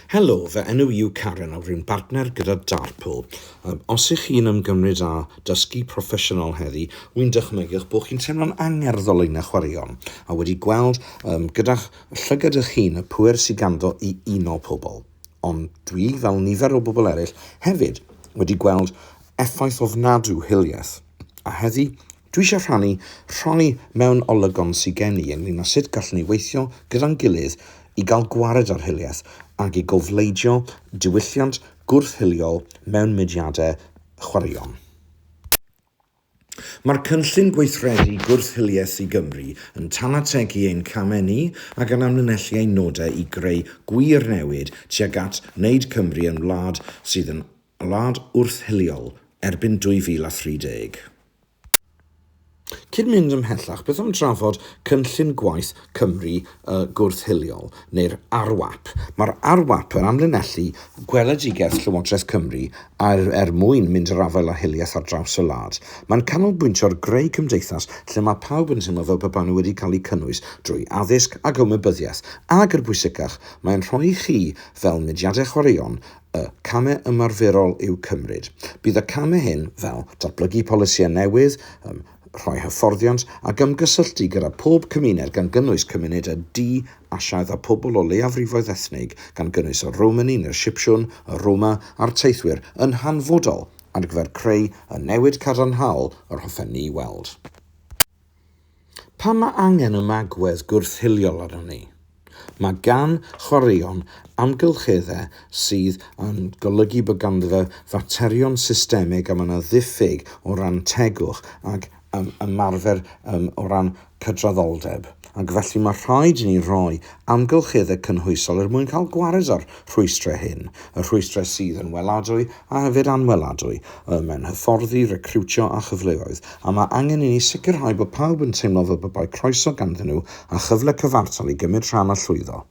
Helo, fy enw i yw Karen a rwy'n bartner gyda Darpl. Os ych chi'n ymgymryd â dysgu proffesiynol heddi, wy'n dychmygu'ch bod chi'n teimlo'n angerddol yn eich chwaraeon a wedi gweld um, gyda'ch llygad eich hun y pŵer sydd ganddo i uno pobl. Ond dwi, fel nifer o bobl eraill, hefyd wedi gweld effaith ofnadw hiliaeth. A heddi, Dwi eisiau rhannu rhai mewn olygon sy gen i ynglyn â sut gallwn ni weithio gyda'n gilydd i gael gwared ar hiliaeth ac i gofleidio diwylliant gwrth-hiliol mewn mudiadau chwaraeon. Mae'r Cynllun Gweithredu Gwrth-hiliaeth i Gymru yn tanategu ein camau ni ac yn amlinellu ein nodau i greu gwir newid tuag at wneud Cymru yn wlad sydd yn wlad wrth-hiliol erbyn 2030. Cyn mynd ymhellach, beth am drafod Cynllun Gwaith Cymru y Gwrth-hiliol, neu'r ARWAP? Mae'r ARWAP yn amlinellu gweledigaeth Llywodraeth Cymru ar er mwyn mynd i'r afael â hiliaeth ar draws y wlad. Mae'n canolbwyntio ar greu cymdeithas lle mae pawb yn teimlo fel pe baen nhw wedi cael eu cynnwys drwy addysg ac ymwybyddiaeth, ac, yn bwysicach, mae'n rhoi i chi, fel mudiadau chwaraeon, Y camau ymarferol i'w cymryd. Bydd y camau hyn, fel datblygu polisïau newydd, rhoi hyfforddiant, ac ymgysylltu gyda phob cymuned gan gynnwys cymuned y du, Asiaidd a pobl o leiafrifoedd ethnig, gan gynnwys y Romani neu'r Sipsiwn, y Roma a'r teithwyr, yn hanfodol ar gyfer creu y newid cadarnhaol yr hoffen ni weld. Pan mae angen ymagwedd gwrth-hiliol arnon ni, mae gan chwaraeon amgylcheddau sydd yn golygu bod ganddo fe faterion systemig a mae yna ddiffyg o ran tegwch ac ymarfer o ran cydraddoldeb, ac felly mae rhaid i ni roi amgylcheddau cynhwysol er mwyn cael gwared â'r rhwystrau hyn, y rhwystrau sydd yn weladwy a yfed anweladwy, ym mhen hyfforddi, recriwtio a chyfleoedd, a mae angen i ni sicrhau bod pawb yn teimlo fel pe bai croeso ganddyn nhw a chyfle cyfartal i gymryd rhan a llwyddo.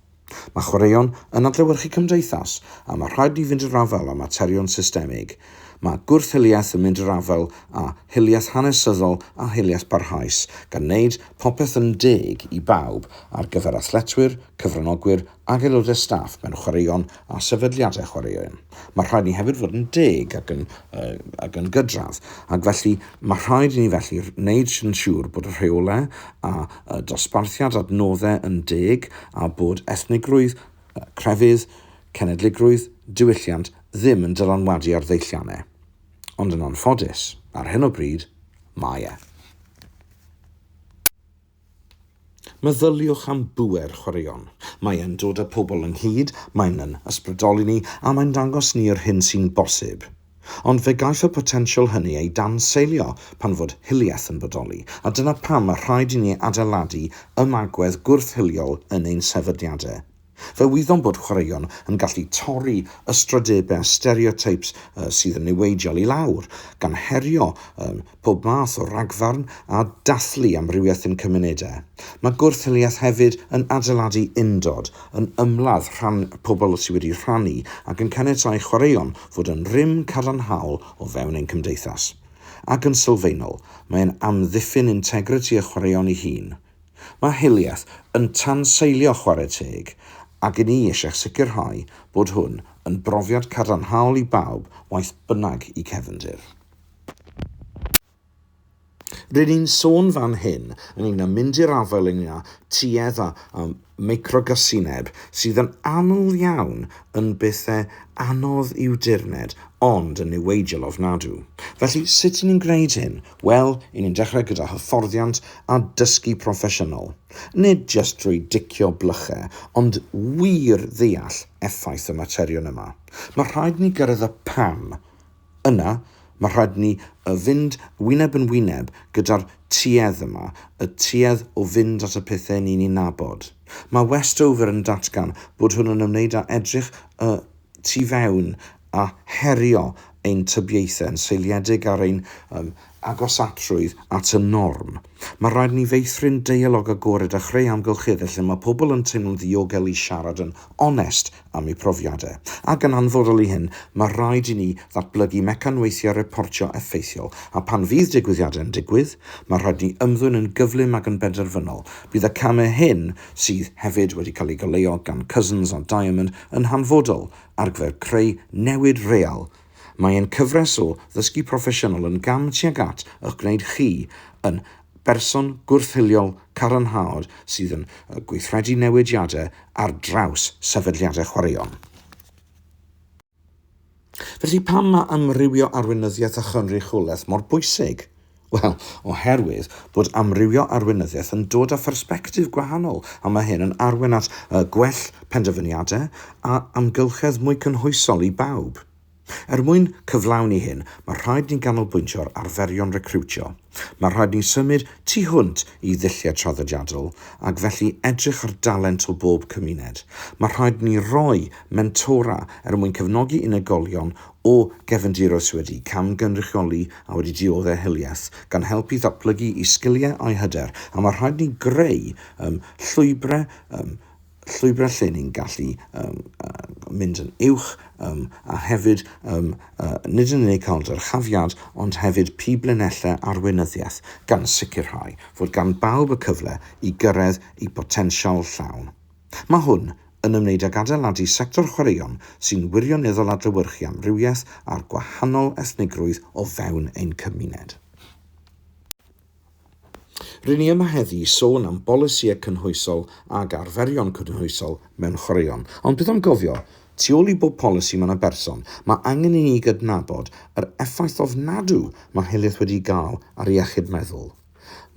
Mae chwaraeon yn adlewyrchu cymdeithas, a mae rhaid ni fynd i'r afael â materion systemig. Mae gwrth-hiliaeth yn mynd i'r afael â hiliaeth hanesyddol a hiliaeth barhaus, gan wneud popeth yn deg i bawb ar gyfer athletwyr, cyfranogwyr ac aelodau staff mewn chwaraeon a sefydliadau chwaraeon. Mae rhaid ni hefyd fod yn deg ac yn, uh, ac yn gydradd, ac felly mae rhaid i ni felly wneud yn siŵr bod y rheolau a uh, dosbarthiad adnoddau yn deg a bod ethnigrwydd, uh, crefydd, cenedligrwydd, diwylliant ddim yn dylanwadu ar ddeilliannau. Ond yn anffodus, ar hyn o bryd, mae e. Meddyliwch am bŵer chwaraeon. Mae e'n dod â pobl ynghyd, mae'n yn ysbrydoli ni a mae'n dangos ni yr hyn sy'n bosib. Ond fe gaiff y potensial hynny ei danseilio pan fod hiliaeth yn bodoli, a dyna pam mae rhaid i ni adeiladu ymagwedd gwrth-hiliol yn ein sefydliadau. Fe wyddom bod chwaraeon yn gallu torri ystrydebau a stereotypes sydd yn niweidiol i lawr, gan herio pob math o ragfarn a dathlu amrywiaeth ein cymunedau. Mae gwrth-hiliaeth hefyd yn adeiladu undod, yn ymladd rhan pobl sydd wedi rhannu ac yn caniatáu chwaraeon fod yn rym cadarnhaol o fewn ein cymdeithas. Ac yn sylfaenol, mae'n amddiffyn integrity y chwaraeon ei hun. Mae Hiliaeth yn tanseilio chwarae teg ac i ni eisiau sicrhau bod hwn yn brofiad cadarnhaol i bawb waeth bynnag y cefndir. Rŷn ni'n sôn fan hyn ynglŷn â mynd i'r afael ynglŷn â tuedd a microgasineb sydd yn annwl iawn yn bethe anodd i'w dirned ond yn niweidiol ofnadw. Felly, sut 'yn ni'n gwneud hyn? Wel, 'yn ni'n dechrau gyda hyfforddiant a dysgu proffesiynol. Nid jyst drwy dicio blyche, ond wir ddeall effaith y materion yma. Mae rhaid ni gyrraedd y 'pam'. Yna, mae rhaid ni y fynd wyneb yn wyneb gyda'r tuedd yma, y tuedd o fynd at y pethau ni'n eu nabod. Mae Westover yn datgan bod hwn yn ymwneud â edrych y tu fewn a herio ein tybiaethau yn seiliedig ar ein agosatrwydd at y norm. Mae rhaid ni feithrin deialog agored a chreu amgylcheddau lle mae pobl yn teimlo'n ddiogel i siarad yn onest am eu profiadau, ac yn anfodol i hyn, mae rhaid i ni ddatblygu mecanweithiau reportio effeithiol, a phan fydd digwyddiadau yn digwydd, mae rhaid i ni ymddwyn yn gyflym ac yn benderfynol. Bydd y camau hyn, sydd hefyd wedi cael eu goleuo gan Cousins a Diamond, yn hanfodol ar gyfer creu newid real. Mae ein cyfres o Ddysgu Proffesiynol yn gam tuag at eich gwneud chi yn berson gwrth-hiliol cadarnhaol sydd yn gweithredu newidiadau ar draws sefydliadau chwaraeon. Felly, pam mae amrywio arweinyddiaeth a chynrychiolaeth mor bwysig? Wel, oherwydd bod amrywio arweinyddiaeth yn dod â phersbectif gwahanol, a mae hyn yn arwain at gwell penderfyniadau a amgylchedd mwy cynhwysol i bawb. Er mwyn cyflawni hyn, mae rhaid ni ganolbwyntio ar arferion recriwtio. Mae rhaid ni symud tu hwnt i ddulliau traddodiadol ac felly edrych ar dalent o bob cymuned. Mae rhaid ni roi mentora er mwyn cefnogi unigolion o gefndiroedd sydd wedi camgynrychioli a wedi dioddef hiliaeth, gan helpu i ddatblygu eu sgiliau a'u hyder, a mae rhaid ni greu um, llwybrau um, llwybrau lle ni'n gallu um, uh, mynd yn uwch um, a hefyd um, uh, nid yn unig cael dyrchafiad ond hefyd pi blinellau arweinyddiaeth gan sicrhau fod gan bawb y cyfle i gyrraedd ei botensial llawn. Mae hwn yn ymwneud ag adeiladu sector chwaraeon sy'n wirioneddol adlewyrchu amrywiaeth a'r gwahanol ethnigrwydd o fewn ein cymuned. Ry'n ni yma heddi i sôn am bolisïau cynhwysol ag arferion cynhwysol mewn chwaraeon. Ond beth am gofio, tu ôl i bob polisi mae yna berson. Mae angen i ni gydnabod yr effaith ofnadw mae hiliaeth wedi gael ar iechyd meddwl.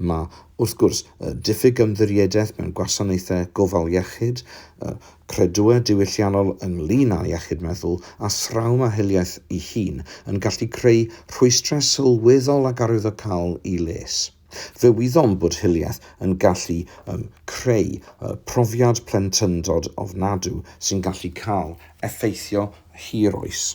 Mae, wrth gwrs, y diffyg ymddiriedaeth mewn gwasanaethau gofal iechyd, y Credwau diwylliannol ynglŷn â iechyd meddwl a thrawma hiliaeth ei hun yn gallu creu rhwystrau sylweddol ac arwyddocaol i les. Fe wyddom bod hiliaeth yn gallu um, creu uh, profiad plentyndod ofnadw sy'n gallu cael effeithio hir oes.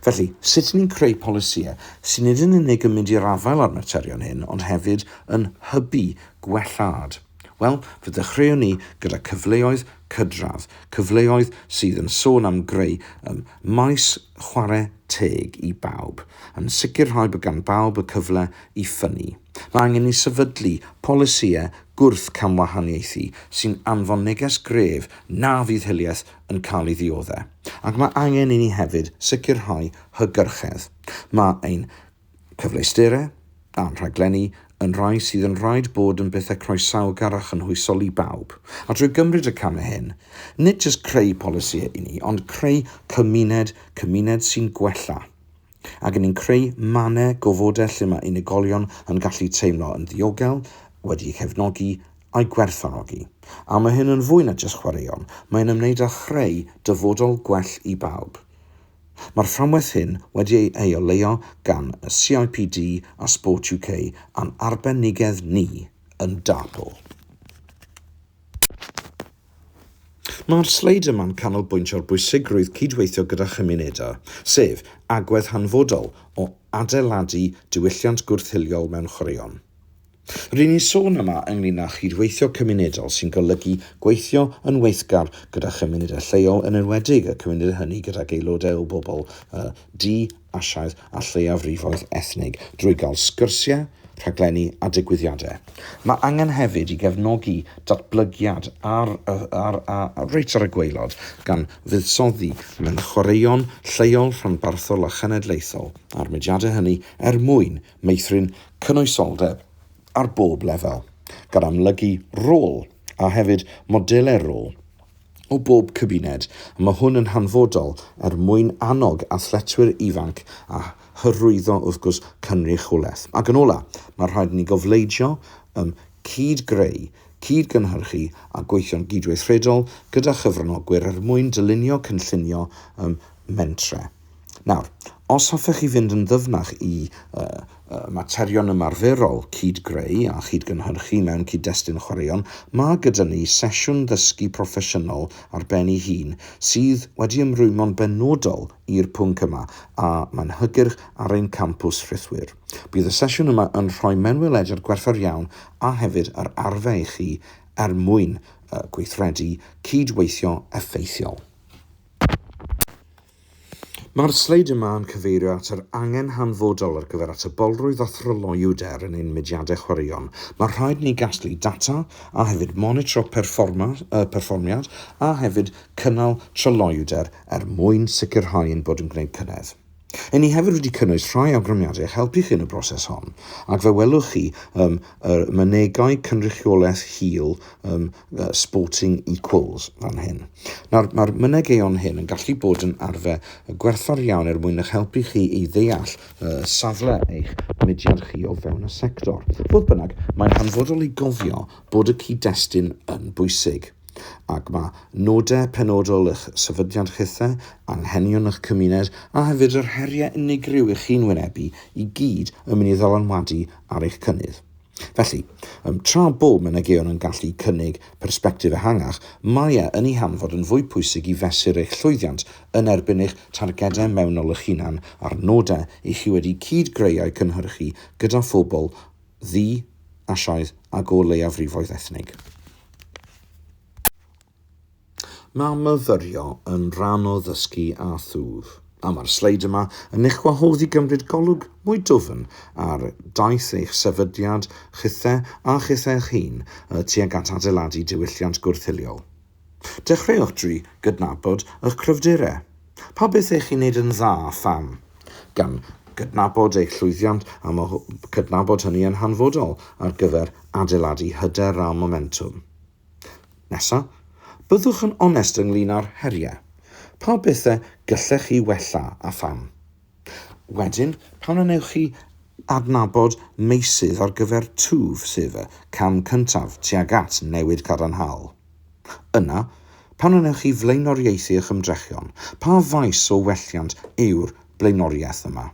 Felly, sut ni'n creu polisïau sy'n nid yn unig yn mynd i'r afael â'r materion hyn ond hefyd yn hybu gwellhad? Wel, fe ddechreuwn ni gyda cyfleoedd cydradd, cyfleoedd sydd yn sôn am greu ym maes chwarae teg i bawb, yn sicrhau bod gan bawb y cyfle i ffynnu. Mae angen i ni sefydlu polisïau gwrth-camwahaniaethu sy'n anfon neges gref na fydd hiliaeth yn cael ei ddioddef, ac mae angen i ni hefyd sicrhau hygyrchedd. Mae ein cyfleusterau a'n rhaglenni yn rhai sydd yn rhaid bod yn bethau croesawgar a chynhwysol i bawb, a drwy gymryd y camau hyn, nid jyst creu polisïau i ni, ond creu cymuned, cymuned sy'n gwella. Ac ni'n creu mannau gofodau lle mae unigolion yn gallu teimlo yn ddiogel, wedi'u cefnogi a'u gwerthfawrogi. A mae hyn yn fwy na jyst chwaraeon, mae'n ymwneud â chreu dyfodol gwell i bawb. Mae'r fframwaith hyn wedi ei oleuo gan y CIPD a Sport UK a'n arbenigedd ni yn Dartpool. Mae'r sleid yma'n canolbwyntio ar bwysigrwydd cydweithio gyda chymunedau, sef agwedd hanfodol o adeiladu diwylliant gwrth-hiliol mewn chwaraeon. Ry'n ni'n sôn yma ynglŷn â chydweithio cymunedol sy'n golygu gweithio yn weithgar gyda chymunedau lleol yn enwedig y cymunedau hynny gydag aelodau o bobl y du Asiaidd a lleiafrifoedd ethnig drwy gael sgyrsiau, rhaglenni a digwyddiadau. Mae angen hefyd i gefnogi datblygiad ar, ar, ar, reit ar y gwaelod gan fuddsoddi mewn chwaraeon lleol, rhanbarthol a chenedlaethol a'r mudiadau hynny er mwyn meithrin cynwysoldeb ar bob lefel, gan amlygu rôl a hefyd modelau rôl o bob cymuned, a mae hwn yn hanfodol er mwyn annog athletwyr ifanc a hyrwyddo wrth gwrs cynrychiolaeth. Ac yn ola', mae rhaid i ni gofleidio ym cyd-greu, cyd-gynhyrchu a gweithio'n gydweithredol gyda chyfranogwyr er mwyn dylunio cynllunio ym mentre. Nawr, os hoffech chi fynd yn ddyfnach i uh, uh, materion ymarferol cyd-greu a chyd-gynhyrchu mewn cyd-destun chwaraeon, mae gyda ni sesiwn ddysgu proffesiynol ar ben ei hun sydd wedi ymrwymo'n benodol i'r pwnc yma a mae'n hygyrch ar ein campws rhithwir. Bydd y sesiwn yma yn rhoi mewnwelediad gwerthfawr iawn a hefyd yr arfer i chi er mwyn uh, gweithredu cyd-weithio effeithiol. Mae'r sleid yma yn cyfeirio at yr angen hanfodol ar gyfer atebolrwydd a thryloywder yn ein mudiadau chwaraeon. Mae rhaid i ni gasglu data a hefyd monitro perfformiad a hefyd cynnal tryloywder er mwyn sicrhau ein bod yn gwneud cynnydd. Ry'n ni hefyd wedi cynnwys rhai awgrymiadau i'ch helpu chi yn y broses hon ac fe welwch chi ym y mynegai cynrychiolaeth hil ym uh, sporting equals fan hyn. Nawr, mae'r mynegeion hyn yn gallu bod yn arfer gwerthfawr iawn er mwyn eich helpu chi i ddeall uh, safle eich mudiad chi o fewn y sector. Fodd bynnag, mae'n hanfodol i gofio bod y cyd-destun yn bwysig ac mae nodau penodol eich sefydliad chithau, anghenion eich cymuned a hefyd yr heriau unigryw i chi'n wynebu i gyd yn mynd i ddylanwadu ar eich cynnydd. Felly, um, tra bod mynegion yn gallu cynnig persbectif ehangach, mae e yn ei hanfod yn fwy pwysig i fesur eich llwyddiant yn erbyn eich targedau mewnol eich hunan a'r nodau i chi wedi cyd-greu a'u cynhyrchu gyda phobl ddu, Asiaidd ac o leiafrifoedd ethnig. Mae myfyrio yn rhan o ddysgu a thwf, a mae'r sleid yma yn eich gwahodd i gymryd golwg mwy dwfn ar daith eich sefydliad chithe a chithe eich hun tuag at adeiladu diwylliant gwrth-hiliol. Dechreuwch drwy gydnabod eich cryfderau. Pa beth eich chi'n gwneud yn dda a pham? Gan gydnabod eich llwyddiant, a mae cydnabod hynny yn hanfodol ar gyfer adeiladu hyder a momentwm. Nesa, byddwch yn onest ynglŷn â'r heriau. Pa bethau gallech chi wella a pham? Wedyn, pan y wnewch chi adnabod meysydd ar gyfer twf, sef y cam cyntaf tuag at newid cadarnhaol. Yna, pan y wnewch chi flaenoriaethu eich ymdrechion, pa faes o welliant yw'r blaenoriaeth yma.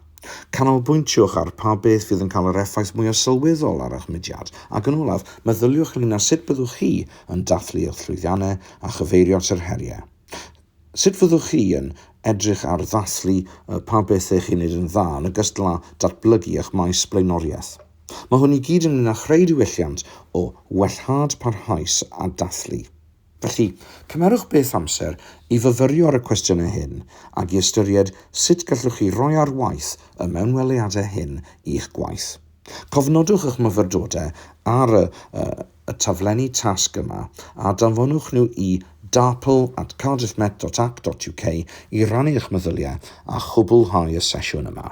Canolbwyntiwch ar pa beth fydd yn cael yr effaith mwyaf sylweddol ar eich mudiad, ac yn olaf, meddyliwch ynglŷn â sut byddwch chi yn dathlu eich llwyddiannau a chyfeirio at yr heriau. Sut fyddwch chi yn edrych ar ddathlu pa bethau chi'n wneud yn dda, yn ogystal â datblygu eich maes blaenoriaeth? Mae hwn i gyd ynglŷn â chreu diwylliant o wellhad parhaus a dathlu. Felly, cymerwch beth amser i fyfyrio ar y cwestiynau hyn ac i ystyried sut gallwch chi roi ar waith y mewnweliadau hyn i'ch gwaith. Cofnodwch eich myfyrdodau ar y y taflenni tasg yma a danfonwch nhw i darpl at cardiffmet.ac.uk i rannu eich meddyliau a chwblhau y sesiwn yma.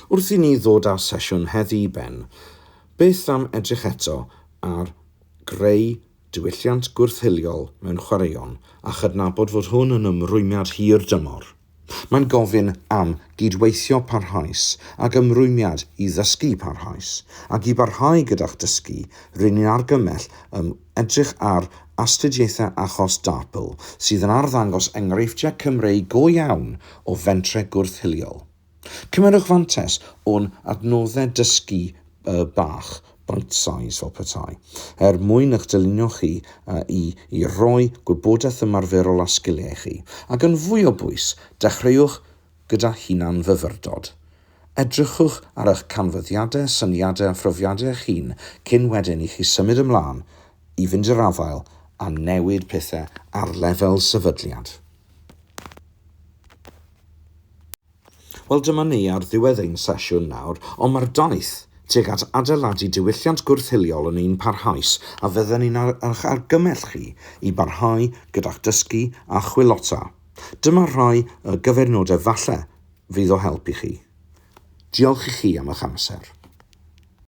Wrth i ni ddod â'r sesiwn heddi i ben, beth am edrych eto ar greu diwylliant gwrth-hiliol mewn chwaraeon a chydnabod fod hwn yn ymrwymiad hir dymor. Mae'n gofyn am gyd-weithio parhaus ac ymrwymiad i ddysgu parhaus, ac i barhau gyda'ch dysgu, ry'n ni'n argymell ym Edrych ar astudiaethau achos DARPL sydd yn arddangos enghreifftiau Cymreig go iawn o fentrau gwrth-hiliol. Cymerwch fantais o'n adnoddau dysgu bach, bite size fel petai, er mwyn eich dylunio chi i i roi gwybodaeth ymarferol a sgiliau i chi, ac yn fwy o bwys, dechreuwch gyda hunan-fyfyrdod. Edrychwch ar eich canfyddiadau, syniadau a phrofiadau eich hun cyn wedyn i chi symud ymlaen i fynd i'r afael a newid pethau ar lefel sefydliad. Wel, dyma ni ar ddiwedd ein sesiwn nawr, ond mae'r daith tuag at adeiladu diwylliant gwrth-hiliol yn un parhaus a fydden ni'n eich argymell chi i barhau gyda'ch dysgu a chwilota. Dyma rhai o gyfeirnodau falle fydd o help i chi. Diolch i chi am eich amser.